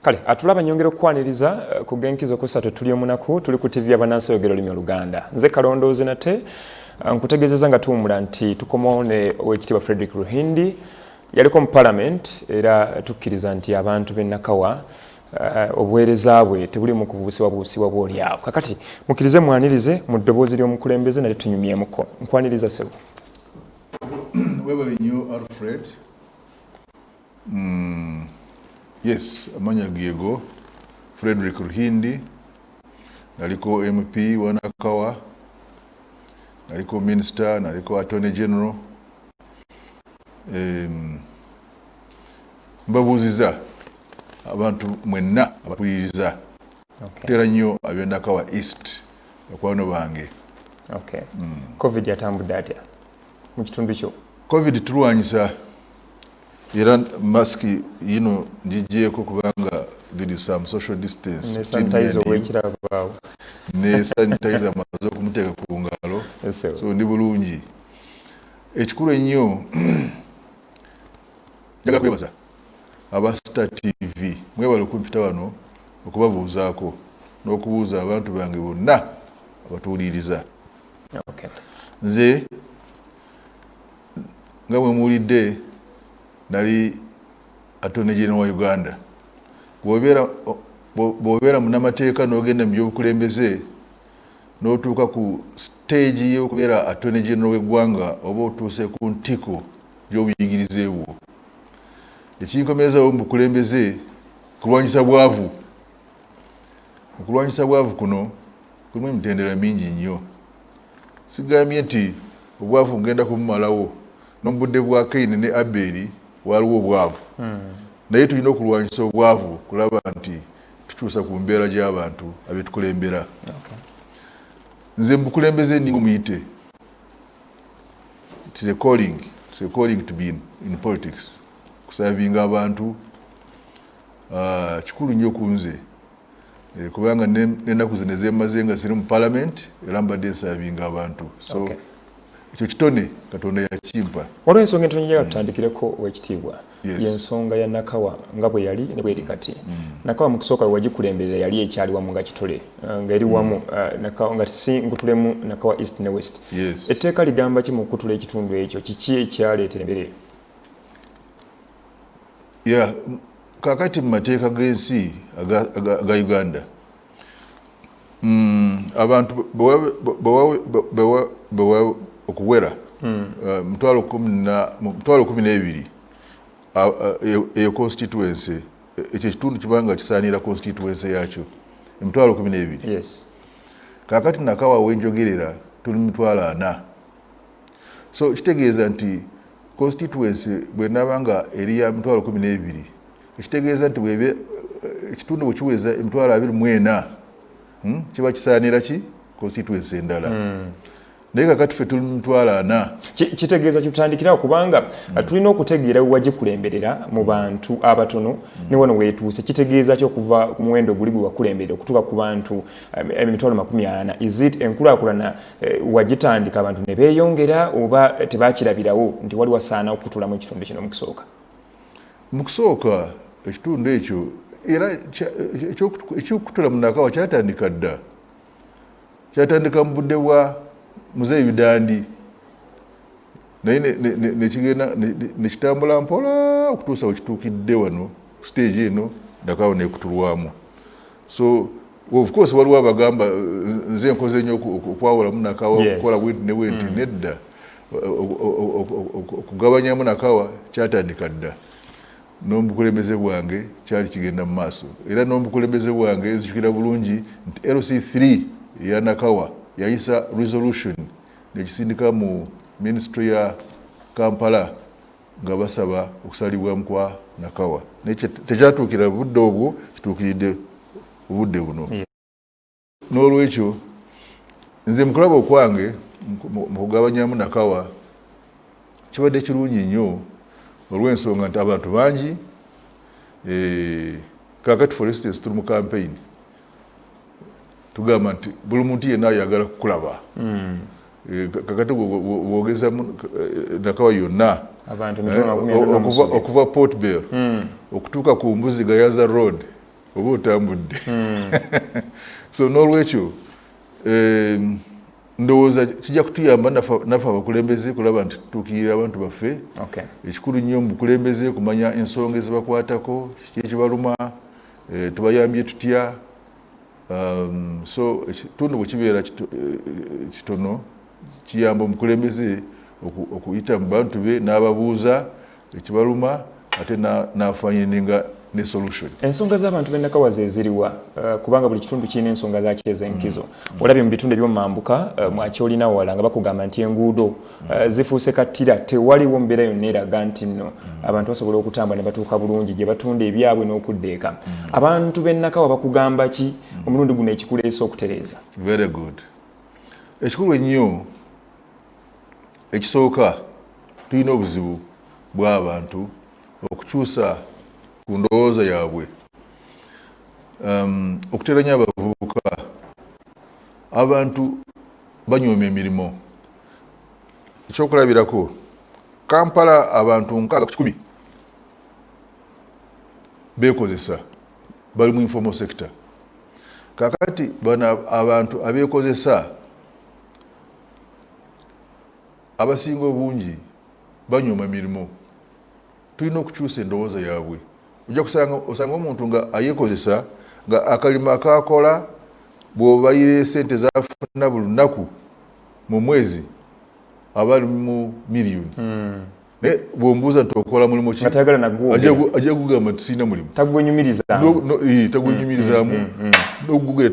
kale atulaba nyongera okukwaniriza eh, ku genkizo kusatu tuli omunaku tuli ku ttivi yabanansi oyogera olulimi oluganda nze kalondoozi nate eh, nkutegezeza nga tuwumula nti tukomawo ne owekitiibwa frederick ruhindi yaliko mu parliament era tukkiriza nti abantu b'e nakawa Eh, obuweereza bwe tebulimu kubuusibwa buusibwa bwolyawo kakati mukkirize mwanirize mu ddoboozi ly'omukulembeze nate tunyumyemuko nkwaniriza sebo webale nyo alfred mm, yes amanya gego frederick ruhindi naliko mp wanakawa naliko minister naliko attorney general mbabuuziza abantu mwenna abatuliriza tera nnyo abendakawa east bakwano bange hmm. covid atambudde atya mu kitundu kyo covid tulwanyisa era masiki yino ngigyeko kubanga there is some social distance ne sanitizer amaze okumuteeka ku ngalo so ndi bulungi Ekikulu ennyo njagala kwebaza aba Star TV mwebale okumpita wano okubabuuzaako n'okubuuza abantu bange bonna abatuwuliriza okay. nze nga mwe muwulidde nali attorney general wa uganda bwobeera munamateeka n'ogenda mu byobukulembeze n'otuuka ku siteegi y'okubeera Attorney General w'eggwanga oba otuuse ku ntiko gy'obuyigirize bwo. Ekinkomerezawo mu bukulembeze kulwanyisa bwavu. Mu kulwanyisa bwavu kuno kulimu emitendera mingi nnyo. Sigambye nti obwavu ngenda kubumalawo no mu budde bwa Kayini ne Abbeeri waaliwo obwavu hmm. naye tulina okulwanyisa obwavu kulaba nti tukyusa ku mbeera gy'abantu abetukulembera nze mubukulembeze ninga omuyite it's a calling it's a calling to be in, in politics kusavinga abantu uh, kikulu nnyo ku nze e, kubanga nenaku zino ezemaze nga ziri mu parliament era mbadde nsavinga abantu so okay. ekyo kitone katonda yakimpa waliwo ensonga entono njagala mm. tutandikireko owekitiibwa yensonga ya nakawa nga bwe yali ne bweri kati mm. nakawa mu kusooka wewagikulemberera yali ekyali wamu nga kitole eh, nga eri wamu mm. eh, nakawa nga si nkutulemu nakawa east ne west etteeka ligamba ki mu kukutula ekitundu ekyo kiki ekyaleetera emberere ya kakati mu mateeka g'ensi aga uganda mm, abantu okuwera mm. uh, mutwalo kumi n'ebiri eyo e, e constituency e, ekyo ekitundu kibanga kisaanira constituency yakyo emitwalo kumi n'ebiri kakati nakawawo enjogerera tuli mitwalo ana So kitegeeza nti constituency bwenaaba nga eri ya mitwalo kumi n'ebiri ekitegeeza nti bweba eh, ekitundu bwekiweza emitwalo abiri mu ena hmm, kiba kisaanira ki constituency endala hmm. naye kakati fe tuli mutwalo ana kitegeeza kitutandikirawo kubanga mm. uh, tulina okutegeera wewagikulemberera mu bantu abatono mm. ne wano wetuuse kitegeeza ki okuva ku muwendo oguli gwe wakulemberera okutuuka ku bantu um, emitwalo makumi ana is it enkulakulana Eh, wagitandika abantu ne beeyongera oba tebakirabirawo nti wali wasaana okutulamu ekitundu kino mukusooka mu kusooka ekitundu ekyo era ekyokutula munakawa kyatandika dda kyatandika mu budde bwa muzeeyi bidandi naye nekigenda nekitambula mpola okutuusa wekituukidde wano siteegi eno ndakawa nekutulwamu so of course waliwo abagamba nze nkoze nyo okwawulamu nakawa okukola bwenti ne bwenti mm. nedda okugabanyamu nakawa kyatandika dda n'omubukulembeze bwange kyali kigenda mu maaso era n'omubukulembeze bwange nzijukira bulungi nti lc3 eya nakawa yayisa resolution nekisindika mu ministry ya kampala nga basaba okusalibwamu kwa Nakawa naye tekyatuukira budde obwo, kituukiridde obudde buno. N'olwekyo nze mu kulaba okwange mu kugabanyamu Nakawa kibadde kirungi nnyo olw'ensonga nti abantu bangi eh, kakati for instance tuli mu kampeyini tugamba nti buli muntu yenna ayagala kukulaba hmm. Eh, kakati bwogeza eh, nakawa yonna eh, okuva port bell hmm. okutuuka ku mbuzi gayaza road oba otambudde hmm. so n'olwekyo ndowooza kijja kutuyamba naffe abakulembeze kulaba nti tutuukirira abantu baffe ekikulu nnyo mubukulembeze kumanya ensonga ezibakwatako kiki ekibaluma tubayambye tutya Um, so ekitundu bwe kibeera eh, kitono kiyamba omukulembeze okuyita mu bantu be n'ababuuza ekibaluma ate n'afanyininga ne solution ensonga z'abantu b'ennakawa ze ziriwa eh, kubanga buli kitundu kirina ensonga zakyo ez'enkizo mm. olabye mu bitundu ebyomumambuka eh, mwakyolina wala nga bakugamba nti enguudo Eh, zifuuse kattira tewaliwo mbeera yonna eraga nti nno mm. abantu basobola okutambula ne batuuka bulungi gye batunda ebyabwe n'okudda eka mm. abantu b'ennakawa bakugamba ki mm. omulundi guno ekikuleesa okutereeza very good ekikulu ennyo ekisooka tulina obuzibu bw'abantu okukyusa ku ndowooza yaabwe um, okuteeranya abavubuka abantu banyooma emirimu ekyokulabirako kampala abantu nkaaga ku kikumi bekozesa bali mu informal sector kakati bano abantu abekozesa abasinga obungi banyuma mirimu Tulina okukyusa endowooza yaabwe. Ojja kusanga osanga omuntu nga ayekozesa nga akalimo akaakola bw'obayira esente zafuna buli lunaku mu mwezi aba ali mu miliyoni hmm. naye bw'ombuuza nti okola mulimu ki ajja kugamba nti sirina mulimu tagwenyumirizaamu n'okugugera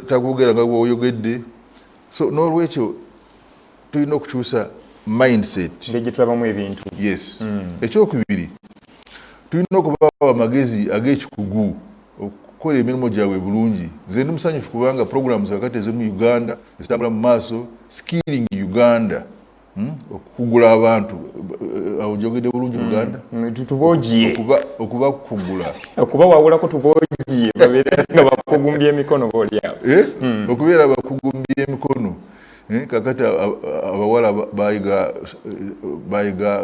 tagwogera nga bwoyogedde so n'olwekyo tulina okukyusa mindset ngeri gyetulabamu ebintu yes mm. ekyokubiri tulina okubawo amagezi agekikugu okukola emirimu gyabwe bulungi nze ndi musanyufu kubanga programs kakati ezimu uganda zitambula mu maaso skilling uganda hmm? okugula abantu eh, awo njogedde bulungi hmm. uganda hmm, tubogiye okubakugula okubawawulako tubogiye babeere nga bakugumbya emikono boolyawo eh? okubeera bakugumbya emikono Eh, kakati abawala bayiga bayiga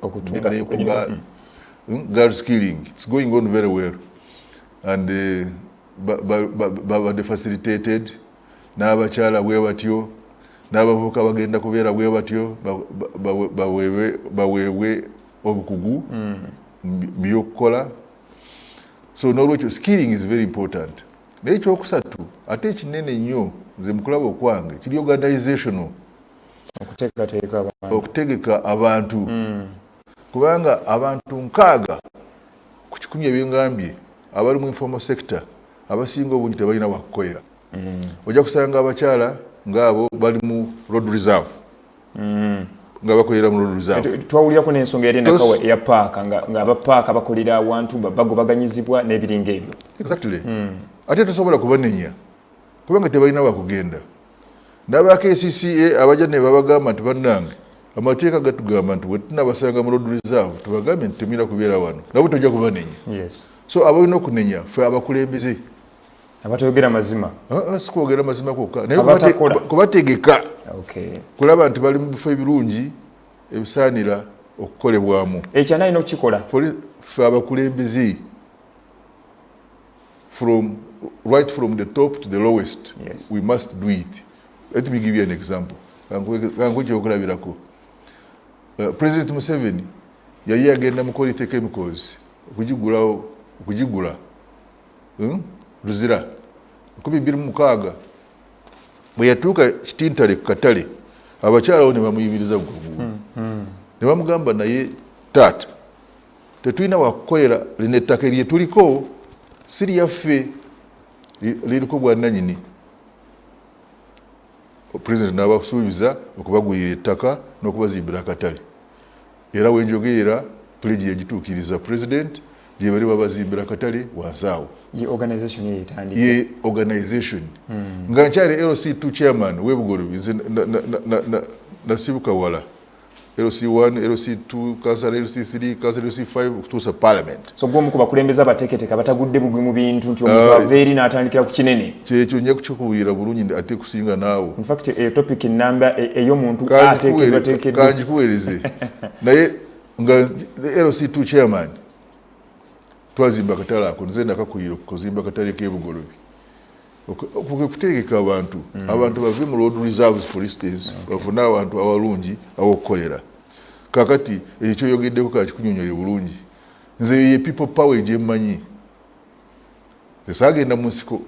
okutunga hmm, girls killing it's going on very well and eh, babadde facilitated n'abakyala bwe batyo n'abavubuka bagenda kubeera bwe batyo baweebwe obukugu hmm. byokukola so n'olwekyo skilling is very important Naye ekyokusatu ate ekinene ennyo nze mukulaba okwange kiri organizational okuteekateeka abantu okutegeka abantu mm. kubanga abantu nkaaga ku kikumi ebyengambye abali mu informal sector abasinga obungi tebalina wakukolera mm. ojja kusanga abakyala ngaabo bali mu road reserve mm. nga bakolera mu luluzabwetwawulirako n'ensonga yali nakawa eya paaka ng'abapaaka bakolera awantu bagobaganyizibwa n'ebiringa ebyo exactly mm. ate tosobola kubanenya kubanga tebalina wakugenda n'aba kcca abajja ne babagamba nti bannange amateeka gatugamba nti wetunabasanga mu road reserve tubagambye nti temwina kubeera wano nabo tojja kubanenya so abalina okunenya fe abakulembeze abatayogera mazima ah, ah, sikwogera mazima kwokka naye kubategeka kulaba nti bali mu bifo ebirungi ebisaanira okukolebwamu ekyo anayina okukikola fe abakulembeze from right from the top to the lowest yes. we must do it let me give you an example kankukyokulabirako uh, president museveni yali agenda mukola iteka emikozi okugigulawo okugigula Hmm? Luzira nkumi bbiri mukaaga bwe yatuuka kitintale ku katale abakyalawo ne bamuyimiriza guluguulu hmm, hmm. ne bamugamba naye taata tetulina wakukolera lino ettaka erye tuliko si lyaffe liriko bwananyini pulezidenti n'abasuubiza okubagulira ettaka n'okubazimbira akatale Era wenjogeera pledge yagituukiriza president gyebali babazimbira akatale wansi awo ye organization ye yetandika ye organization mm. nga nkyali LC2 chairman we Bugolobi nze nasibuka na, na, na, na wala LC1 LC2 council LC3 council LC5 okutuusa parliament so gwe omu ku bakulembeze abateeketeka batagudde bugwi mu bintu nti omuntu ah, ava eri n'atandikira ku kinene kyekyo nja kukikubuulira bulungi nti ate kusinga naawe infact eyo topic namba e, ey'omuntu ateekeddwateekeddwa kanjikuweereze naye nga lc2 chairman twazimba akatale ako nze ndakakuyira okuzimba akatale k'ebugolobi kutegeka abantu mm. abantu bave mu road reserves for instance bafune abantu awalungi awokukolera kakati ekyo kyoyogeddeko kakikunyonyole bulungi Nze eyo ye people power egyemanyi. Nze saagenda mu nsiko.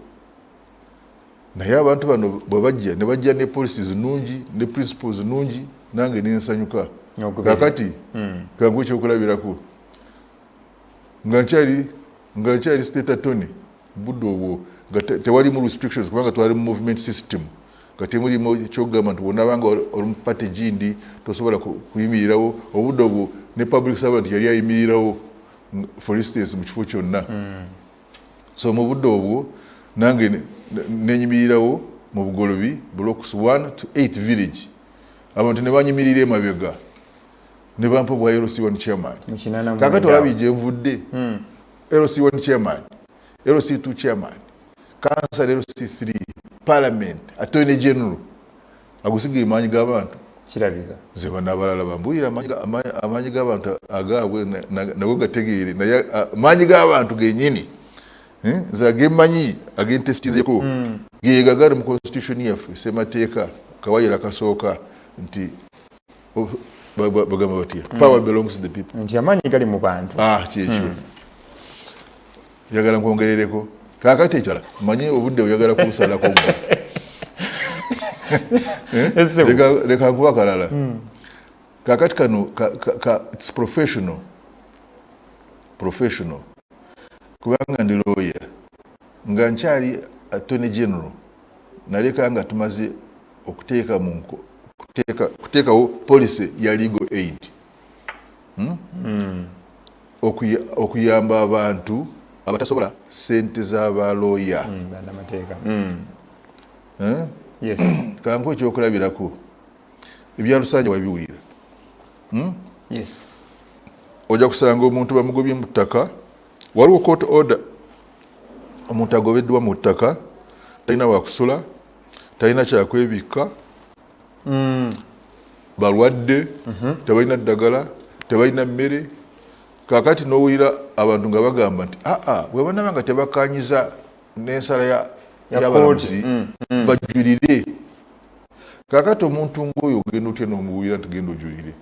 Naye abantu bano bwe bajja ne bajja ne policy zinungi ne principles zinungi nange ne nsanyuka. Kakati hmm. kangu ekyokulabirako nga nkyali nga nkyali state attorney budde obwo nga tewalimu restrictions kubanga twali mu movement system kati mulimu kyogamba nti wonabanga oli mu party gindi tosobola kuyimirirawo obudde obwo ne public servant yali ayimirirawo for instance mu kifo kyonna hmm. so mu budde obwo nange nenyimirirawo mu bugolobi blocks 1 to 8 village abantu ne banyimirira emabega ne bampa obwa lc1 chairman kakati olabye gyenvudde hmm. lc1 chairman LC2 chairman, kansala LC3, parliament, attorney general. Agusigaye maanyi g'abantu. Kirabika. Nze bano abalala bambuulira amaanyi g'abantu agaabwe nago gategeere naye maanyi g'abantu genyini eh, nze agemanyi agentesitizeko hmm. gegagali mu constitution yaffe semateeka kawayira kasooka nti oh, bagamba batya hmm. power belongs to the people nti amaanyi gali mu bantu ah, kyekyo hmm. njagala nkwongerereko kakati ekyala manye obudde oyagala kubusalako leka nkuba kalala hmm. kakati kano its professional professional kubanga ndi lawyer nga nkyali attorney general naleka nga tumaze okuteeka mu okuteekawo policy ya legal aid hmm? Hmm. okuyamba abantu abatasobola sente za balooya hmm, eh? kanku ekyokulabirako ebyalusanja wabiwulira ojja kusanga omuntu bamugobye mu ttaka waliwo court order omuntu agobeddwa mu ttaka talina wakusula talina kyakwebikka mm. balwadde mm -hmm. tebalina ddagala tebalina mmere kakati nowulira abantu nga bagamba nti aa ah, ah, bwebanaba nga tebakanyiza nensala yabalamuzi mm, mm. bajulire kakati omuntu ngaoyo ogenda otya nomuwulira nti genda ojulire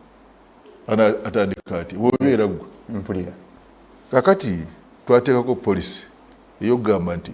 atandika ati bwobeera gwe mpulira kakati twateekako polisi eyokugamba nti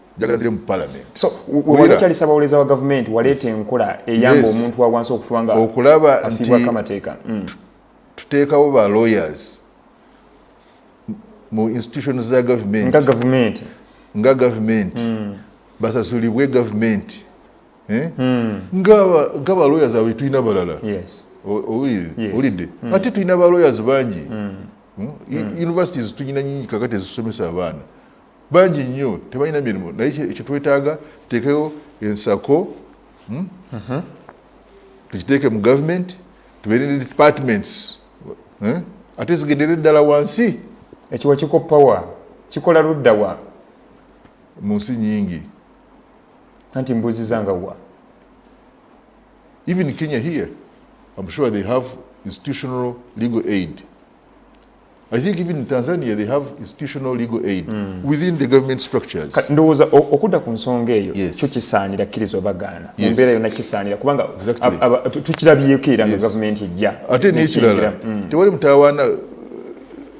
njagazire mu parliament so wali kyali sabawoleza wa government walete enkola eyamba yes. omuntu awansi okufuba nga okulaba afibwa kamateeka mm. tuteekawo ba lawyers mu institutions za government nga government nga government mm. basasulibwe government eh? mm. nga nga ba lawyers awe tulina balala yes owulidde mm. ate tulina ba lawyers bangi mm. mm. mm. universities tulina nyingi kakati ezisomesa abaana bangi nnyo tebalina mirimu naye kyetwetaaga tuteekeyo ensako hmm? mhm. tukiteeke mu government tubeere ne departments eh? ate zigendere eddala wansi ekiwa kikopawa kikola luddawa mu nsi nyingi anti mbuzi zangawa even kenya here im sure they have institutional legal aid I think even in Tanzania they have institutional legal aid mm. within the government structures. Ndowooza okudda ku nsonga eyo yes. kyo kisaanira kkirizwa bagaana yes. mumbeera yonna kisaanira kubanga exactly. tukirabyeko era nga yes. gavumenti ejja ate nekirala mm. tewali mutawaana uh,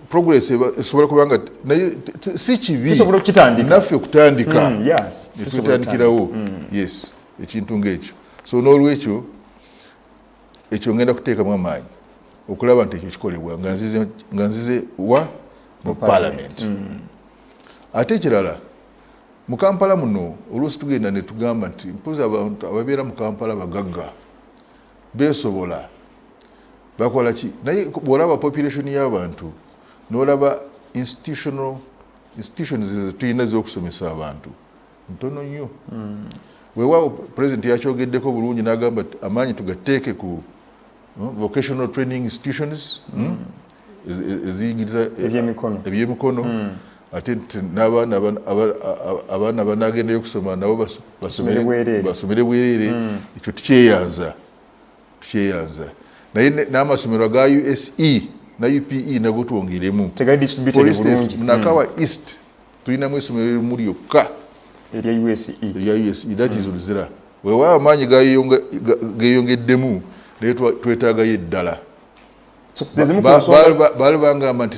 progress esobola kuba nga naye si kibi naffe okutandika mm, yes. netutandikirawo mm. yes ekintu ngaekyo so n'olwekyo ekyo ngenda kuteekamu amaanyi okulaba nti ekyo kikolebwa nga nzize wa mu palamenti mm. ate ekirala mu kampala muno oluusi tugenda ne tugamba nti mpozi abantu ababeera mu kampala bagagga beesobola bakola ki naye bwolaba population y'abantu n'olaba institutions ezitulina ez'okusomesa abantu ntono nnyo weewaawo president yakyogeddeko bulungi n'agamba ti amaanyi tugatteeke ku hmm, vocational training institutions hmm, mm. eziyigiriza eh, ebyemikono mm. ate n'abaana abaana banagendayo okusoma nabo basomere bwereere mm. ekyo tukyeyanza tukyeyanza naye n'amasomero aga use na upe nago twongeremu munakawa east tulinamu essomero erimu lyokka erya use erya use that is oluzira weewaawo amaanyi geeyongeddemu naye twetaagayo eddala baali bangamba nti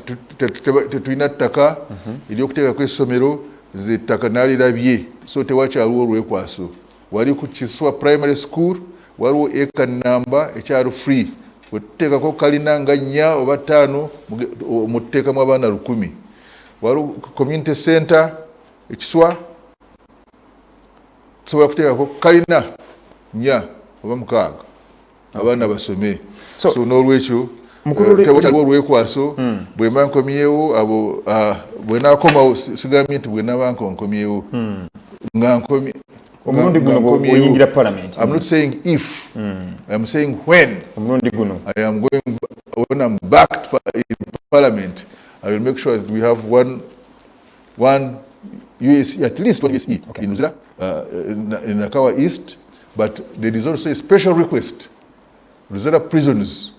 tetulina ttaka mhm. eryokuteekako essomero nze ettaka nalirabye so tewakyaliwo olwekwaso wali ku kiswa primary school waliwo eka namba ekyalo free wetuteekako kalina nga nnya oba ttaano mututeekamu abaana lukumi waliwo community center ekiswa tusobola kuteekako kalina nya oba mukaaga abaana basome so n'olwekyo tewataliwo eh, olwekwaso hmm. bwemba nkomyewo abo ah, bwenakomawo sigambye nti bwenaba nko nkomyewo hmm. nga nkomye omulundi guno oyingira parliament i'm not saying if hmm. i'm saying when omulundi guno i am going when i'm back to parliament I will make sure that we have one, one USE, at least one USE okay. in Uzira, uh, in, in Nakawa East, but there is also a special request. Uzira prisons,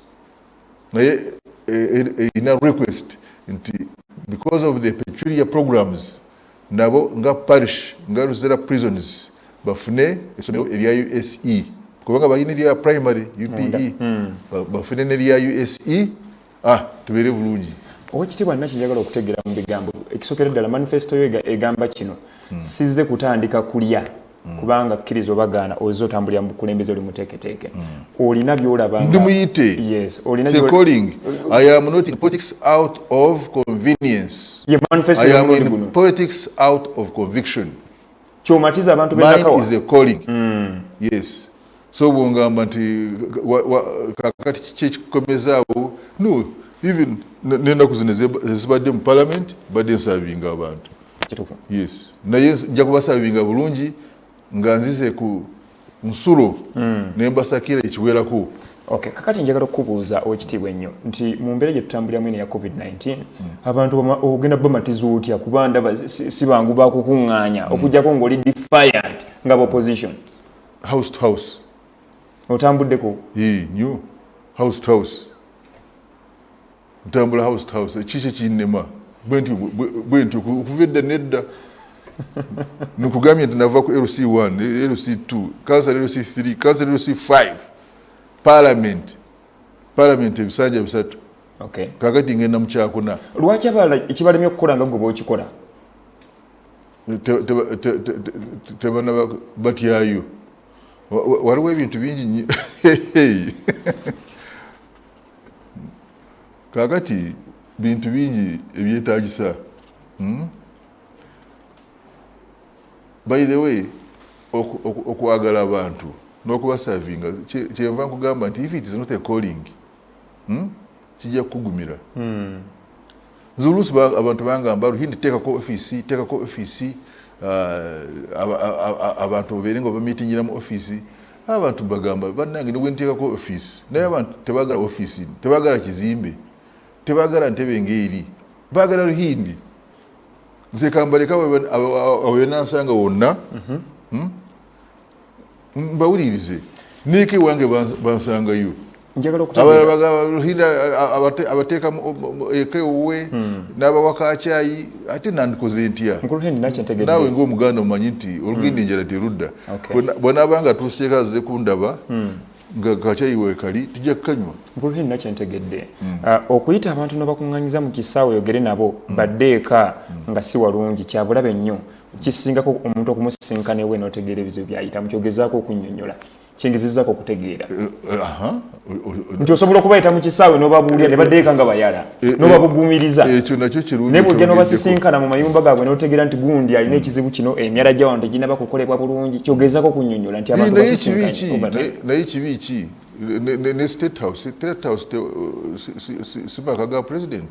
eh, eh, eh, in a request, because of the peculiar programs, nabo nga parish, nga Uzira prisons, bafune esomero erya USE, kubanga balina erya primary UPE, hmm. bafune nerya USE, ah, tubeere bulungi owekitiibwa naki njagala okutegeera mu bigambo ekisokera ddala manifesito yo egamba kino hmm. sizze kutandika kulya hmm. kubanga kkiriza obagaana ozze otambulira mu bukulembeze oli muteeketeeke hmm. olina byolabandi muyite yes olina calling i am not in politics out of convenience ye manifesto ya mulundi guno politics out of conviction kyomatiza abantu benakawa is a calling mm. yes so bwongamba nti kakati kiki ekikomezaawo no even nenaku zino ezibadde mu parliament badde nsavinga abantu yes naye nja kubasavinga bulungi nga nzize ku nsulo hmm. nembasakira ekiwerako Okay, kakati njagala okubuuza owekitiibwa ennyo nti mu mbeera gye tutambuliramu eno ya covid-19 mm. abantu ogenda bamatiza otya kuba ndaba si bangu bakukuŋŋaanya mm. okujjako ng'oli defiant nga bopposition house to house otambuddeko nyo house to house ntambula house to house ekiki ekinnema bwenti okuva edda nedda nokugambye nti nava ku lc 1 lc 2 kansala lc 3 kansala lc 5 palamenti palamenti ebisanja bisatu kakati ngenda mukyakuna lwaki abala ekibalemye okukola nga gwe bwokikola tebana batyayo waliwo ebintu bingi nyo kakati bintu bingi ebyetagisa hmm? by the way okwagala abantu nokubasavinga kyenva nkugamba nti if it is not a calling hmm? kijja kukugumira hmm. nze oluusi abantu bangamba ruhindi teekako ofiisi teekako ofiisi ah, abantu babeere nga bamitingira mu ofiisi abantu bagamba bannange ne bwenteekako ofiisi naye abantu tebagala ofiisi tebagala kizimbe tebagala ntebe ngaeri bagala ruhindi nze kambaleka awenansanga wonna mhm. hmm? mbawulirize neeka ewange bansangayo abalala bagahinda abateeka eka ewuwe hmm. n'abawakakyayi ate nandikoze ntya naawe ngaomuganda omanyi nti olugenda hmm. enjala terudda bwanaaba nga tuuseeko aze kundaba hmm. nga kakyayi wekali tujja kukanywa nkulheni nakyo ntegedde ah, okuyita abantu nobakuŋŋanyiza mu kisaawe oyogere nabo badde eka nga si walungi kyabulabe nnyo kisingako omuntu okumusisinkana ewe notegeera ebizibu byayitamu kyogezaako okunyonyola kyengezezako okutegeera eh, eh, nti osobola okubayita mu kisaawe nobabuulira ne badeeka nga bayala eh, nobabugumiriza naye bwojja nobasisinkana mu mayumba gaabwe notegeera nti gundi alina ekizibu kino emyala gyawano teginaba kukolebwa bulungi kyogezako okunyonyola nti abantu basisinkanaye kibi ki ne state house state house sibaka ga president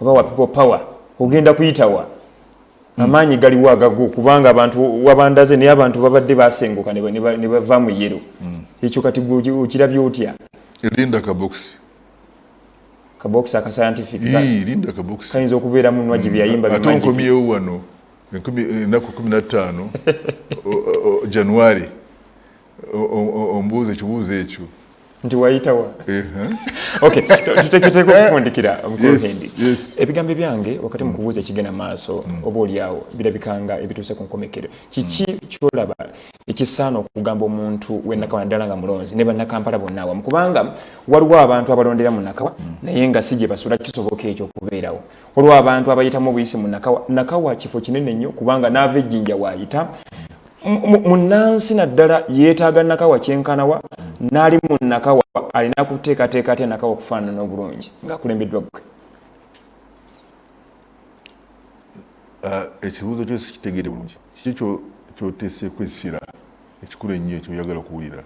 oba wa people power ogenda kuyitawa hmm. amaanyi galiwo agago kubanga abantu wabandaze naye abantu babadde basenguka ne bava mu yero hmm. ekyo kati okirabye otya erinda kabokisi kabokisi aka scientific erinda kabokisi kayinza okubeera mu nwaji byeyayimba hmm. ate nkomyewo wano enaku kumi na ttaano january ombuuza ekibuuzo ekyo nti wayitawa tuteketeeka okufundikira omukuhendi ebigambo byange wakati mu kubuuza ekigenda maaso mm. oba olyawo birabikanga ebituuse ku nkomekero kiki mm. kyolaba ekisaana okugamba omuntu wenakawa naddala nga mulonzi ne bannakampala bonna awamu kubanga waliwo abantu abalondera mu nakawa mm. naye nga si gye basula kisoboka ekyo okubeerawo waliwo abantu abayitamu obuyisi mu nakawa nakawa kifo kinene nnyo kubanga naava ejjinja waayita munnansi naddala yeetaaga nakawa kyenkanawa n'ali mu nakawa alina kuteekateeka atya nakawa okufaanana obulungi ng'akulembeddwa gwe uh, ekibuuzo kyo sikitegere bulungi kiki kyoteeseeku essira ekikulu ennyo ekyoyagala okuwulira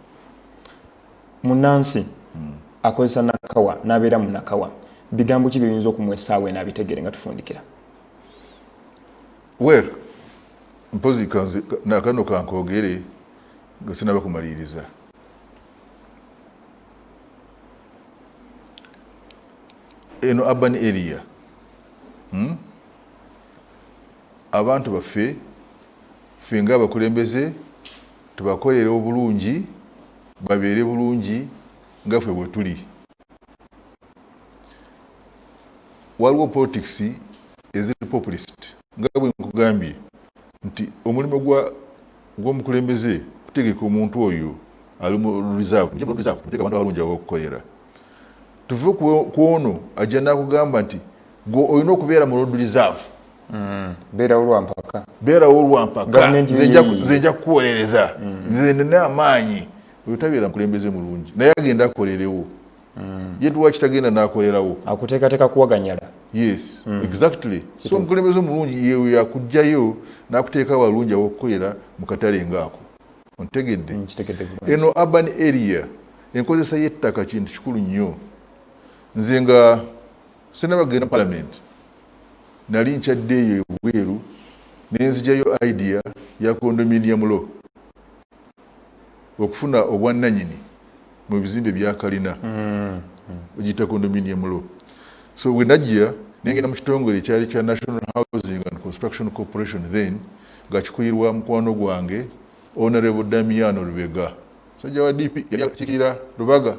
munnansi hmm. akozesa nakawa n'abeera mu nakawa bigambo ki byoyinza okumwesaawo enaabitegeere nga tufundikira Well, mpozi kanzi nakano kankogere nga sinaba kumaliriza. Eno urban area. Hmm? Abantu baffe ffe nga abakulembeze tubakolere obulungi babeere bulungi nga ffe bwe tuli. waliwo politics eziri populist nga bwe nkugambye nti omulimu gw'omukulembeze kutegeka omuntu oyo ali mu reserve muteeka abantu abalungi abakukolera tuve ku ono ajja nakugamba nti gwe olina okubeera mu road reserve mm. beerawo lwampaka beerawo lwampaka nze nja kukuwolereza mm. nze nina amaanyi oyo tabeera mukulembeze mulungi naye agenda akolerewo mm. ye lwaki tagenda nakolerawo akuteekateka kuwaganyala yes mm. exactly Kitu. so mukulembeze mulungi yeyo yakugjayo nakuteeka walungi awokukolera mukatale ngaako ontegedde mm, eno urban area enkozesa yettaka kintu kikulu nnyo nze nga senabagenda palamenti nali nkyadde eyo ebweru nenzijayo idea ya condominium law okufuna obwannanyini mu bizimbe bya kalina bagiyita condominium law so we najja nengenda mu kitongole ekyali kya national housing and construction corporation then nga kikuyirwa mukwano gwange honorable damiano lubega musajja wa dp yali akikiira lubaga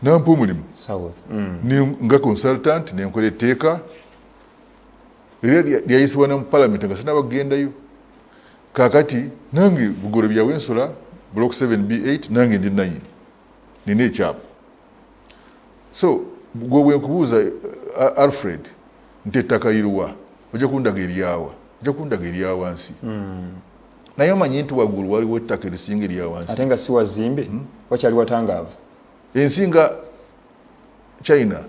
nampa omulimu mm. nga consultant nenkola etteeka era lyayisibwa ne mu palamenti nga sinaba kugendayo Kakati nange bugoro bya wensula block 7B8 nange ndi nanyini nina ekyapa so gwe wenkubuuza eh, eh, Alfred nti ettaka iruwa ojja kundaga eryawa ojja kundaga eryawansi hmm. naye omanyi nti waggulu waliwo ettaka erisinga eryawansi ate nga si wazimbe hmm? wakyali watangaavu ensinga china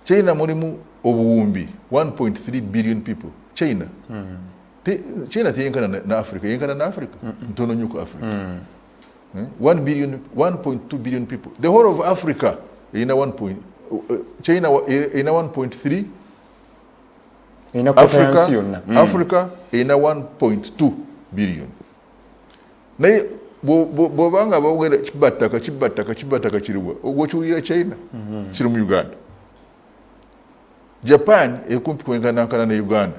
China mulimu obuwumbi 1.3 billion people China mm. Te, China teyenkana na, na Africa yenkana na Africa mm -mm. ntono nyuko Africa mm. eh? 1 billion 1.2 billion people the whole of Africa ina 1 point uh, uh, China ina 1.3 ina Africa, mm. Africa ina 1.2 billion naye bwoba nga bogera kibattaka kibattaka kibattaka kiriwa ogwokiwulira china mhm. kiri mu uganda japan ekumpi kwenkanankana ne uganda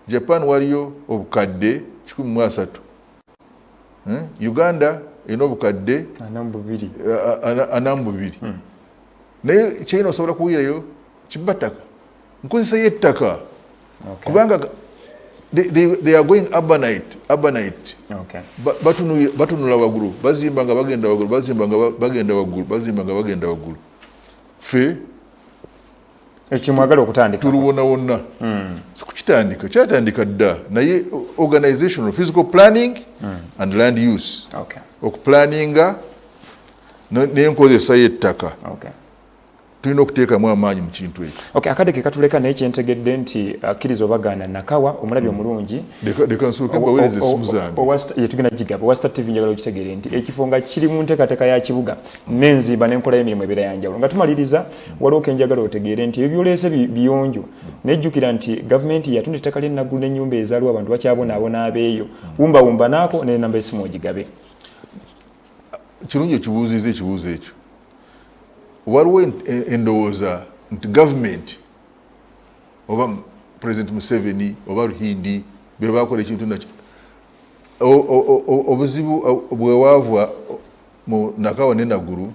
japan waliyo obukadde kikumi mu asatu hmm? uganda erina obukadde anamu bubiri hmm. naye china osobola kuwulirayo kibattaka nkozesa yettaka okay. kubanga they, they, they are going urbanite urbanite okay. batunula wagulu bazimba nga bagenda wagulu bazimba nga bagenda wagulu bazimba nga bagenda wagulu fe ekimwagala okutandika tuluwona wonna mm. sikukitandika kyatandika dda naye organization of physical planning mm. and land use okay. okuplaninga nenkozesa yettaka okay. tulina okuteekamu amaanyi mu kintu ekyo okay, akade ke katuleka naye kyentegedde nti akkiriza obagaana nakawa omulabi mm. omulungi leka nsooke mbaweereza essimu zange tugenda gigaba owa star tv njagala okitegeere nti ekifo nga kiri mu nteekateeka ya kibuga n'enzimba n'enkola y'emirimu ebeera yanjawulo nga tumaliriza mm. waliwo ke njagala otegeere nti ebyo byoleese biyonjo mm. naye jjukira nti gavumenti yatunda ettaka ly'ennaggulu n'ennyumba ezaaliwo abantu bakyabonaabona abeeyo wumbawumba naako n'enamba esimu ogigabe kirungi okibuuziza ekibuuzo ekyo waliwo endowooza nti gavumenti oba president museveni oba ruhindi bebakola ekintu nakyo obuzibu bwewavwa mu nakawa ne nagulu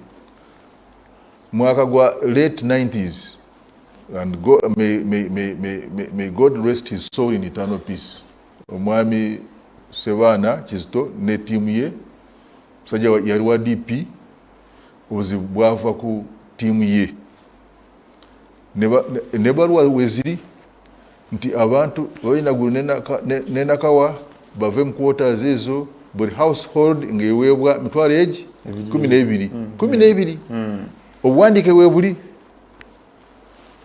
mwaka gwa late 90s and go, may, may, may, may, may god rest his soul in eternal peace Omwami Sebaana Kizito ne ttiimu ye, musajja yali wa DP, obuzibu bwava ku ttiimu ye nebaluwa weziri nti abantu babainagulu nenakawa bave mu quarters ezo buli household ngaeweebwa mitwalo egi kumi nebiri mm. kumi nebiri mm. obuwandiike webuli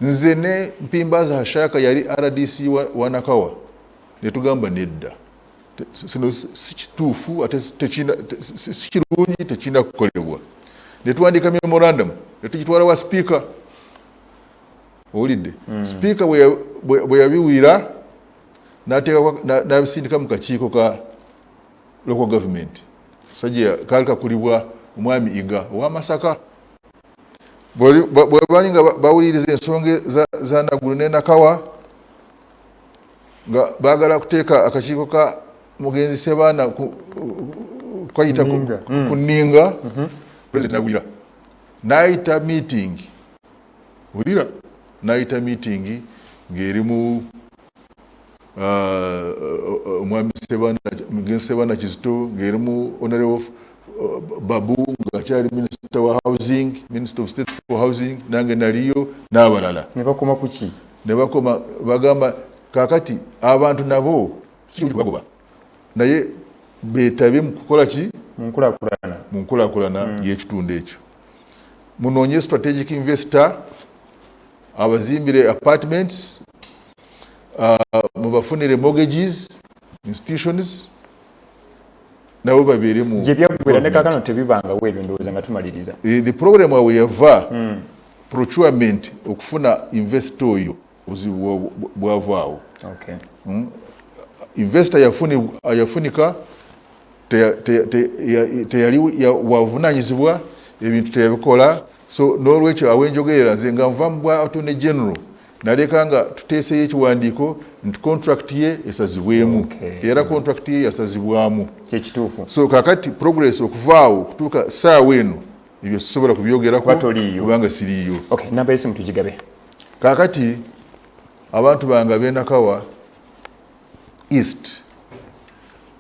nze ne mpimbaza hashaka yali rdc wa nakawa netugamba nedda sino sikituufu ate sikirungi tekirina kukolebwa netwandiika memorandum netugitwala wa sipiika owulidde hmm. sipiika bwe yabiwira nabisindika mu kakiiko ka local government sajja kaali kakulibwa omwami iga owamasaka bwebali nga bawuliriza ensonga zanagulu nenakawa nga bagala kuteeka akakiiko ka mugenzi sebaana kukayita ku ninga mhm. president nagulira nayita meeting wulira nayita meeting ng'erimu uh, omwami gen sebana kizito ngaerimu honorable uh, babu ngaakyali minisita wa housing minister of state for housing nange naliyo n'abalala nebakoma kuki nebakoma bagamba kakati abantu nabo sibagoba naye betabye mukukola ki munkulakulana munkulakulana mm. yekitundu ekyo munoonye strategic investor abazimbire apartments uh, mubafunire mortgages institutions nabo babeere mu gye byaggwera ne kakano tebibangawo ebyo ndowooza nga tumaliriza eh, the problem awe yava hmm. procurement okufuna investor oyo obuzibu bwavaawo okay. mm? investor yafuni, yafunika teyali wavunanyizibwa ebintu teyabikola so nolwekyo awenjogerera nze nga nva mu bwa attorney general naleka nga tuteeseyo ekiwandiiko nti contract ye esazibwemu okay. era contract ye yasazibwamu kyekituufu so kakati progress okuvaawo okutuuka saawa eno ebyo sisobola kubyogerako kubanga siriiyo okay. namba esimu tugigabe kakati abantu bange abenakawa east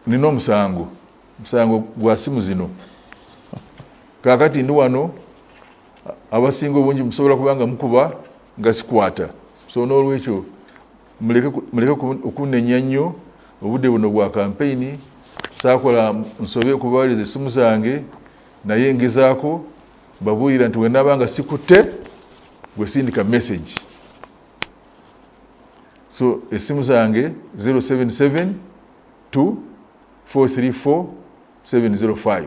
nina omusango musango gwa simu zino kakati ndi wano abasinga obungi musobola kuba nga mukuba nga sikwata so n'olwekyo muleke okunenya nnyo obudde buno bwa kampeyini saakola nsobe okubawereza essimu zange naye ngezaako babuulira nti wenaba nga sikutte gwesindika message so essimu zange 077 2 434 705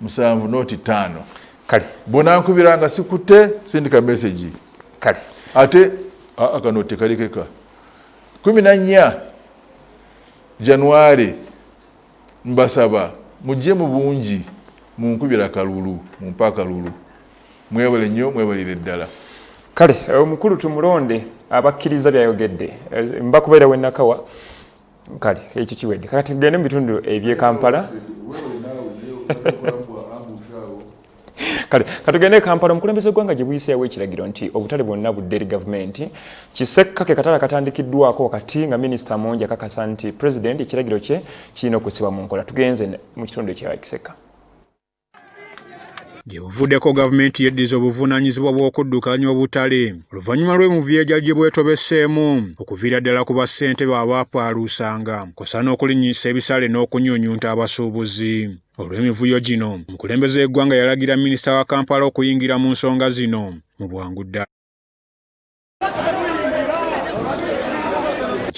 musanvu noti taano kale bonankubira nga sikute sindika message kale ate akano tekalikeka kumi na nnya januari mbasaba mujje mu bungi munkubira kalulu mumpe akalulu mwebale nnyo mwebalire ddala kale omukulu tumulonde abakkiriza byayogedde eh, mbakubeera wenakawa kale ekyo kiwedde kakati gende mu bitundu ebyekampala kale katugende kampala omukulembeze gwanga gye buyiseewo ekiragiro nti obutale bwonna budde eri gavumenti kisekka ke katale akatandikiddwako wakati nga minisita amongi akakasa nti pulezidenti ekiragiro kye kirina okusibwa mu nkola tugenze mu kitundu ekya kisekka Gye buvuddeko gavumenti yeddiza obuvunaanyizibwa bw'okuddukanya obutale oluvannyuma lw'emuvyegya gye bwetobeseemu okuviira ddala ku bassentebe abaapaaluusanga kw'ossa n'okulinnyisa ebisale n'okunyunyunta abasuubuzi olw'emivuyo gino omukulembeze w'eggwanga yalagira minisita wa kampala okuyingira mu nsonga zino mu bwangu ddala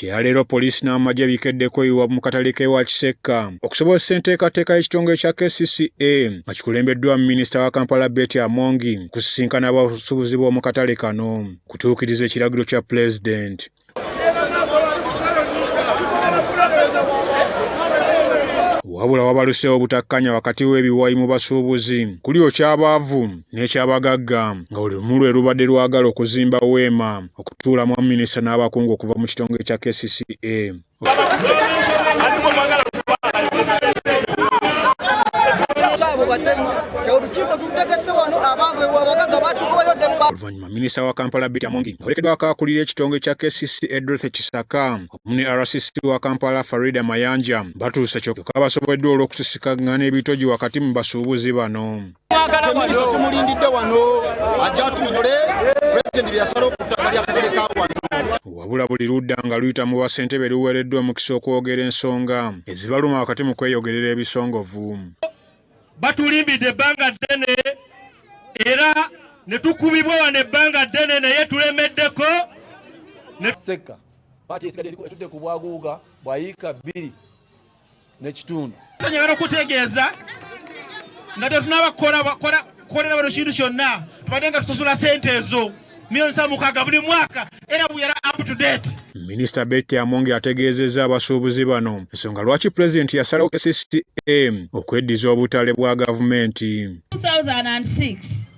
kyeyaleero poliisi n'amagye bikeddeko iwa mu katale k'ewa kisekka okusobozesa enteekateeka y'ekitongole kya kcca nga kikulembeddwa minisita wa kampala beti amongi kusisinkana abasuubuzi b'omu katale kano kutuukiriza ekiragiro kya pulezidenti wabula wabaluseewo obutakkanya wakati w'ebiwayi mu basuubuzi kuli okyabaavu n'ekyabagagga nga buli lumu lwe lubadde lwagala okuzimba weema okutuulamu baminisita n'abakungu okuva mu kitongole kya kcca oluvannyuma minisita wa kampala bita mungi awerekeddwa akakulira ekitongole kya kcc edreth kisaka wamu ne rcc wa kampala farida mayanja batuuse kyoka basoboleddwa olw'okusisikagana ebitogi wakati mu basuubuzi bano tumulindidde wano ajja atunyonyole pulezidenti byeyasala okuttaka lyakatuleka wano wabula buli ludda nga luyita mu basentebe luweereddwa omukisa okwogera ensonga ezibaluma wakati mu kweyogerera ebisongovu batulimbidde ebbanga ddene era ne tukubibwa wano ebbanga ddene naye tulemeddeko sekka pati esigadde etudde ku bwaguuga bwa yiika bbiri nekitundu njagala okutegeeza nga tetunaba kukolera bano kintu kyonna tubadde nga tusasula sente ezo milioni sa mukaaga buli mwaka era buyera up to date Minisita Betty Amongi ategeezezza abasuubuzi bano ensonga lwaki pulezidenti yasalawo KCCA okweddiza obutale bwa gavumenti. 2006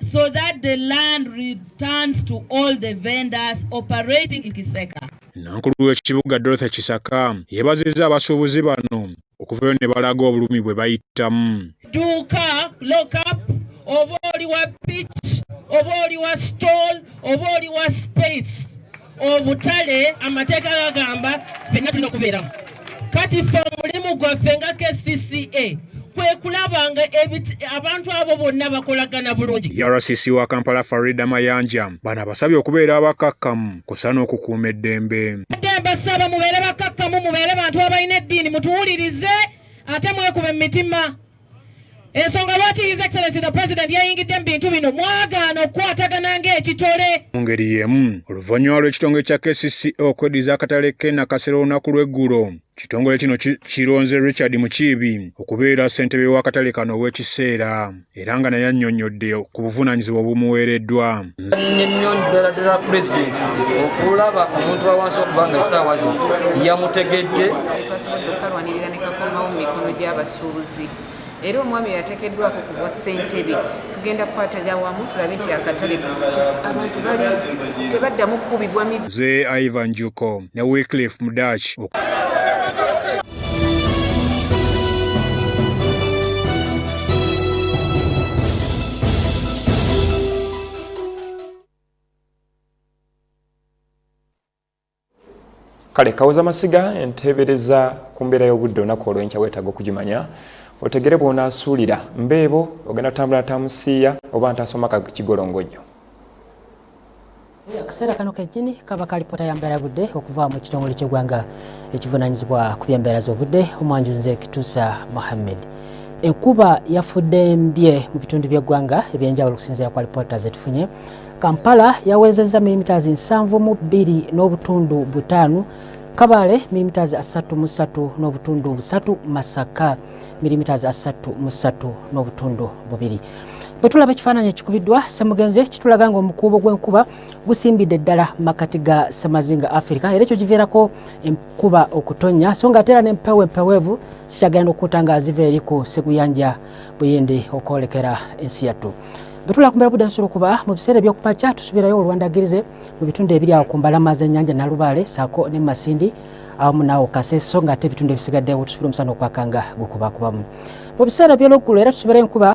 so that the land returns to all the vendors operating in Kiseka. Nankulu w'ekibuga Dorothy Kisaka yebazizza abasuubuzi bano okuvayo ne balaga obulumi bwe bayitamu. Duuka lockup oba oli wa pitch oba oli wa stall oba oli wa space obutale amateeka gagamba fenna tulina okubeeramu kati fe omulimu gwaffe nga kcca kwekulabanga abantu abo bonna bakolagana bulungi urcc wa kampala farida mayanja bano abasabye okubeera abakakkamu kusa n'okukuuma eddembe adde mbasaba mubeere bakakkamu mubeere bantu abalina eddiini mutuwulirize ate mwekube mu mitima ensonga lwaki his excellency the president yayingidde mu bintu bino mwagaana okukwatagana ng'ekitole mu ngeri y'emu oluvannyuma lw'ekitongole kya kcca e okweddiza akatale ke nakasera olunaku lw'eggulo kitongole kino kironze richard mukiibi okubeera ssentebe w'akatale kano ow'ekiseera era nga naye annyonnyodde ku buvunaanyizibwa obumuweereddwa nnyo ddala ddala pulezidenti okulaba omuntu wawansi okubanga essaawa zino yamutegedde abasuubuzi era omwami oyo atekeddwako ku bwa ssentebe tugenda kukwatalira wamu tulabe nti akatale abantu bali tebaddamu kukubibwa mi ze ivan juko ne wicliff mudach kale kawoza masiga enteebereza ku mbeera y'obudde olunaku olwenkya weetaaga okugimanya otegere bw'onaasuulira mbeebo ogenda kutambula natamusiiya oba ntaasoma kigolongo nnyo akaseera kano kennyini kaba kalipota ya mbeera yobudde okuva mu kitongole ky'eggwanga ekivunaanyizibwa ku byembeera z'obudde omwanjunze kituusa mohammed enkuba yafudde mbye mu bitundu by'eggwanga ebyenjawulo okusinziira ku alipoota zetufunye Kampala yawezezza milimitaazi nsanvu mu bbiri n'obutundu butaano Kabale milimitaazi asatu mu ssatu n'obutundu busatu Masaka milimitaazi asatu mu ssatu n'obutundu bubiri bwe tulaba ekifaananyi ekikubiddwa ssemugenzi kitulaga nga omukuubo gw'enkuba gusimbidde ddala mu makkati ga ssemazinga afirika era ekyo kiviirako enkuba okutonnya so nga ate era n'empewo empeweevu zikyagenda okukuta nga ziva eri ku seguyanja buyindi okwolekera ensi yattu Bwetula kumbera budde nsolo kuba mu biseera ebyokumakya tusubirayo olwandagirize mu bitundu ebiri awo ku mbalama z'ennyanja Nalubaale saako ne mu Masindi awamu naawo Kaseso ng'ate ebitundu ebisigaddewo tusubira omusana okwakanga gukubakubamu mu biseera by'olweggulo era tusubirayo enkuba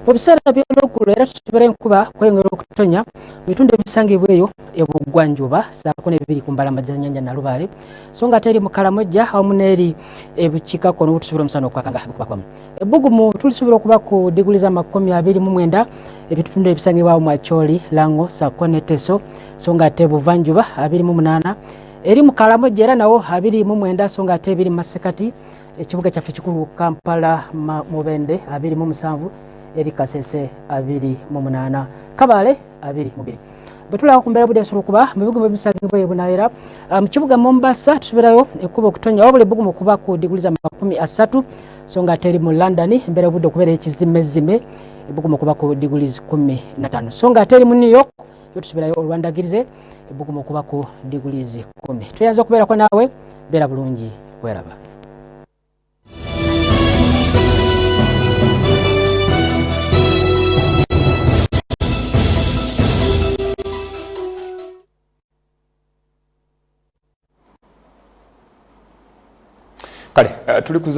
mu biseera by'olweggulo era tukibera enkuba kweyongera okutonya mu bitundu ebisangibwa eyo ebuggwanjuba saako nebibiri ku mbalama zanyanja nalubaale so nga ate eri mukalamojja awamu n'eri ebukiikakkono wotusobola omusana okwakanga gukubakwamu ebbugumu tulisobola okuba ku diguli z'amakumi abiri mu mwenda ebitundu ebisangibwawo mu acholi lango sako ne teso so nga ate buvanjuba abiri mu munaana eri mu kalamoja era nawo abiri mu mwenda so nga ate ebiri mu masekati ekibuga kyaffe kikulu kampala mubende abiri mu musanvu eri kasese abiri mu munaana kabaale abiri mubiri bwetulaba ku mbeera budde nsobola okuba mu bibuga ebisangiddwa e bunaera ah, mu kibuga mombasa tubeerayo ekkuba okutonya wabula ebbugumu okuba ku diguli za makumi asatu so nga ate eri mu london embeera budde okubeera ekizimezzime ebbugumu okuba ku diguli kumi natano so nga ate eri mu new york yo tusubeerayo olwandagirize ebbugumu okuba ku diguli kumi tweyanza okubeerako naawe beera bulungi weraba kale eh, tuli